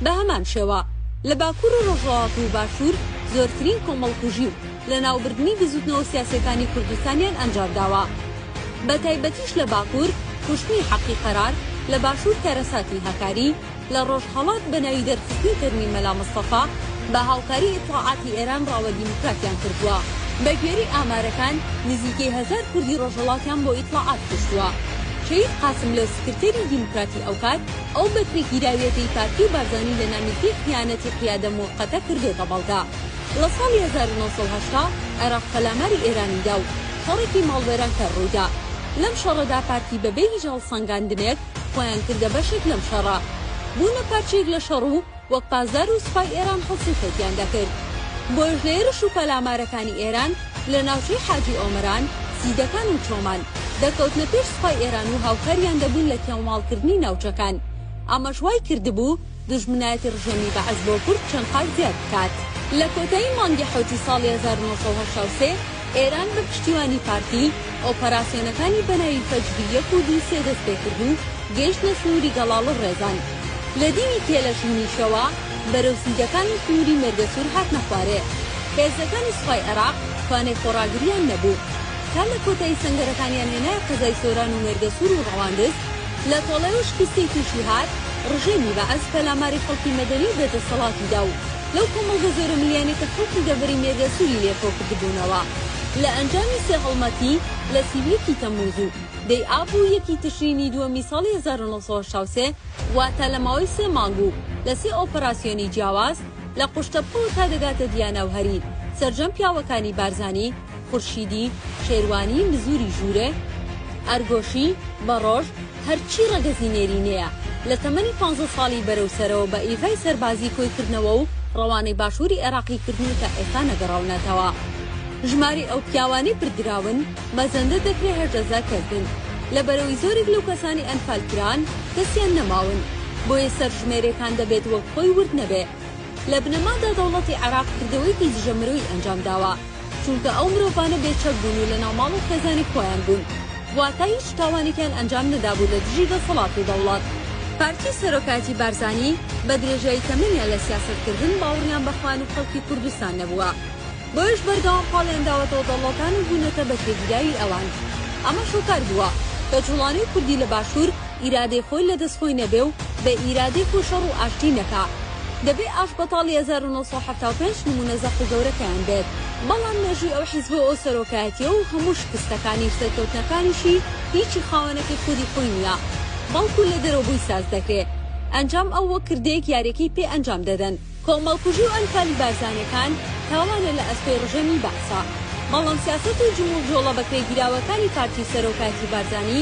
بە هەمان شێوە لە باکوور و ڕۆژهەڵات و باشوور زۆرترین کۆمەڵکوژی و لەناوبردنی بزوتنەوە سیاسیەکانی کوردستانیان ئەنجامداوە بەتایبەتیش لە باکور کوشتنی حەقی قەرار، لە باشور کارەساتی هەکاری، لە ڕۆژهەڵات بەناوی دەرخستنی تەرمی مەلا مستەفا بە هاوکاری ئیتڵاعاتی ئێران ڕاوە دیموکراتیان کردوە. بەگوێرەی ئامارەکان نزیکەی هەزار کوردی ڕۆژهەڵاتیان بۆ ئیتڵاعات کوشتوە. شەهید قاسملۆ سکرتێری دیموکراتی ئەوکات ئەو بەکرێگیراویەتەی پارتی و بارزانی لەنامیلکەی خیانەتی قیادە موقتە کردۆتە بەڵگە. لە ساڵی هەزار و نۆ سەد و هەشتا عێراق پەلاماری ئێرانی دا و شەڕێکی ماڵوێرانکەر ڕووی دا. لەم شەڕەدا پارتی بەبێ هیچ هەڵسەنگاندنێک خۆیان کردە بەشێک لەم شەڕە. بوونە پارچەیەک لە شەڕ و وەک پاسدار و سوپای ئێران هەڵسوکەوتیان دەکرد. بۆیەش لە هێرش و پەلامارەکانی ئێران لە ناوچەی حاجی ئۆمەران، سیدەکان و چۆمان، دەکەوتنە پێش سوپای ئێران و هاوکاریان دەبوون لە کێڵماڵکردنی ناوچەکان. ئەمەش وای کردبوو، دوژمنایەتی ڕژێمی بەعس بۆ کورد چەند قات زیاد بکات. لە کۆتایی مانگی حەوتی ساڵی هەزار و نۆ سەد و هەشتا و سێ، ئێران بە پشتیوانی پارتی، ئۆپەراسیۆنەکانی بە ناوی فەجری یەک و دوو سێ دەست پێ کرد و گەیشتنە سنووری گەڵاڵ و ڕێزان. لە دیوی تێلەشوونیشەوە بەرەو سیدەکانی سنووری مێرگەسوور هاتنە خوارێ. هێزەکانی سوپای عێراق توانای خۆڕاگرییان نەبوو. تا لە کۆتایی سەنگەرەکانیان هێنایە قەزای سۆران و مێرگەسوور و ڕەواندز لە تۆڵەیەوە شکستیی تووشی هات. ڕژێمی بەعس پەلاماری خەڵکی مەدەنی و بێدەسەڵاتی دا و لەو کۆمەڵگە زۆرە ملیانەی کە خەڵکی دەڤەری مێرگە سووری لێ کۆ کردبوونەوە لە ئەنجامی سێ هەڵمەتی لە سی و یەکی تەممووز و دەی ئاب و یەکی تشرینی دووەمی ساڵی هەزار و نۆ سەد و هەشتا و سێ واتە لە ماوەی سێ مانگ و لە سێ ئۆپەراسیۆنی جیاواز لە قوشتەپەوە تا دەگاتە دیانا و هەریر سەرجەم پیاوەکانی بارزانی، خورشیدی، شێروانی، مزووری ژوورێ، ئەرگۆشی، بەڕۆژ، هەرچی ڕەگەزی نێرینەیە، لە تەمەنی پانزە ساڵی بەرەو سەرەوە بە ئیڤای سەربازی کۆی کردنەوە و ڕەوانەی باشووری عێراقی کردن و تا ئێستا نەگەڕاونەتەوە. ژمارەی ئەو پیاوانەی بردراون، مەزەندە دەکرێ هەژدە زار کەس بن. لە بەرەوی زۆرێک لەو کەسانەی ئەنفال کران، کەسیان نەماون. بۆیە سەرژمێرێکان دەبێت وەک خۆی ورد نەبێ. لە بنەمادا دەوڵەتی عێراق کردەوەیەکی دژە مرۆیی ئەنجام داوە. چونکە ئەو مرۆڤانە بێ چەک بوون و لەناو ماڵ و خێزانی خۆیان بوون واتە هیچ تاوانێکیان ئەنجام نەدابوو لە دژی دەسەڵات و دەوڵەت. پارتی سەرۆکایەتی بارزانی بە درێژایی تەمەنیان لە سیاسەت کردن باوڕیان بە خوان و خەڵکی کوردستان نەبووە بۆیەش بەردەوام پاڵیان داوەتەوە دەوڵەتان و بوونەتە بە تێگیراوی ئەوان ئەمەش هۆکار بووە کە جوڵانەوی کوردی لە باشوور ئیرادەی خۆی لە دەست خۆی نەبێ و بە ئیرادەی خۆی شەڕ و ئاشتی نەکا دەبێ ئاشبەتاڵی هەزار و نۆ سەد و حەفتا و پێنج نموونە زەق و گەورەکەیان بێت، بەڵام مێژووی ئەو حیزب و ئەو سەرۆکایەتیە و هەموو شکستەکانی و سەرکەوتنەکانیشی هیچی خاوەنەکەی خودی خۆی نیە، بەڵکو لە دەرەوە بۆی ساز دەکرێ. ئەنجام ئەو وەک کردەیەک یاریەکەی پێ ئەنجام دەدەن. کۆمەڵکوژی و ئەنفالی بارزانیەکان تاوانە لە ئەستۆی ڕژێمی بەعسا، بەڵام سیاسەت و جموجۆڵە بەکرێگیراوەکانی پارتی و سەرۆکایەتی بارزانی،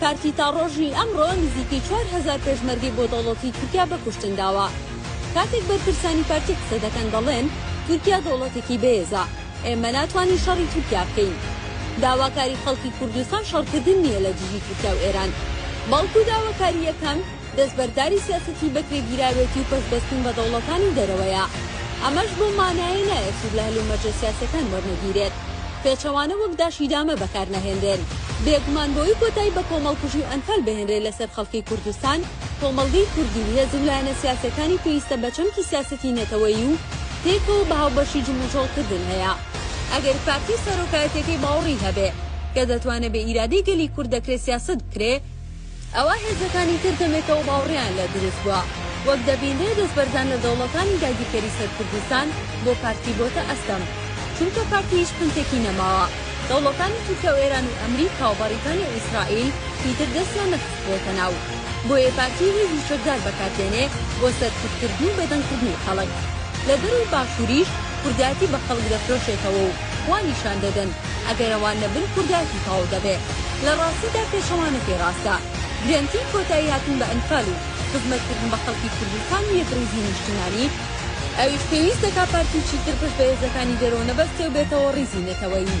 پارتی تا ڕۆژی ئەمڕۆ نزیکەی چوار هەزار پێشمەرگەی بۆ دەوڵەتی تورکیا بە کوشتن داوە. کاتێک بەرپرسانی پارتی قسە دەکەن دەڵێن، تورکیا دەوڵەتێکی بەێزە، ئێمە ناتوانین شەڕی تورکیا بکەین. داواکاری خەڵکی کوردستان شەڕکردن نییە لە دژی تورکیا و ئێران، بەڵکو داواکارییەکەم، دەستبەرداری سیاسەتی بەکرێگیراوێتی و پەشبەستن بە دەوڵەتانی دەرەوەیە. ئەمەش بەو مانایەی نایەت سوود لە هەلومەرجە سیاسییەکان وەرنەگیرێت. پێچەوانە وەک داشیدامە بەکارنەهێنرێن. بێگومان بەوەی کۆتایی بە کۆمەڵکوژی و ئەنفال بهێنرێت لەسەر خەڵکی کوردستان، کۆمەڵگەی کوردی و هێز و لایەنە سیاسییەکانی پێویستە بە چەمکی سیاسەتی نەتەوەیی و پێکەوە بە هاوبەشی جموجۆڵکردن هەیە. ئەگەر پارتی و سەرۆکایەتییەکەی باوەڕی هەبێ کە دەتوانێ بە ئیرادەی گەلی کورد دەکرێ سیاسەت بکرێ، ئەوا هێزەکانی تر دەمێکەوە باوڕیان لە دروست بوە. وەک دەبینرێ دەستبەرزان لە دەوڵەتانی داگیرکەری سەر کوردستان بۆ پارتی بۆتە ئەستەم. چونکە پارتی هیچ پنتێکی نەماوە. دەوڵەتانی تورکیا و ئێران و ئەمریکا و بەڕیتانیا و ئیسرائیل هیتر دەستیان نەخستبوەتە ناو. بۆیە پارتی هێزی چەکدار بەکار دێنێ بۆ سەرکوت کردن و بێدەنگ کردنی خەڵک. لە دەرەوەی باشوریش کوردایەتی بە خەڵک دەفرۆشێتەوە و. وا نیشان دەدەن ئەگەر ئەوان نەبن کوردایەتی تەواو دەبێ. لە ڕاستیدا پێچەوانەکەی ڕاستە. گرەنتی کۆتایی هاتن بە ئەنفال و خزمەت کردن بە خەڵکی کوردستان و یەکڕیزی نیشتیمانی، ئەویش پێویست دەکا پارتی چیتر پشت بە هێزەکانی دەرەوە نەبەستێ و بێتەوە ڕیزی نەتەوەیی.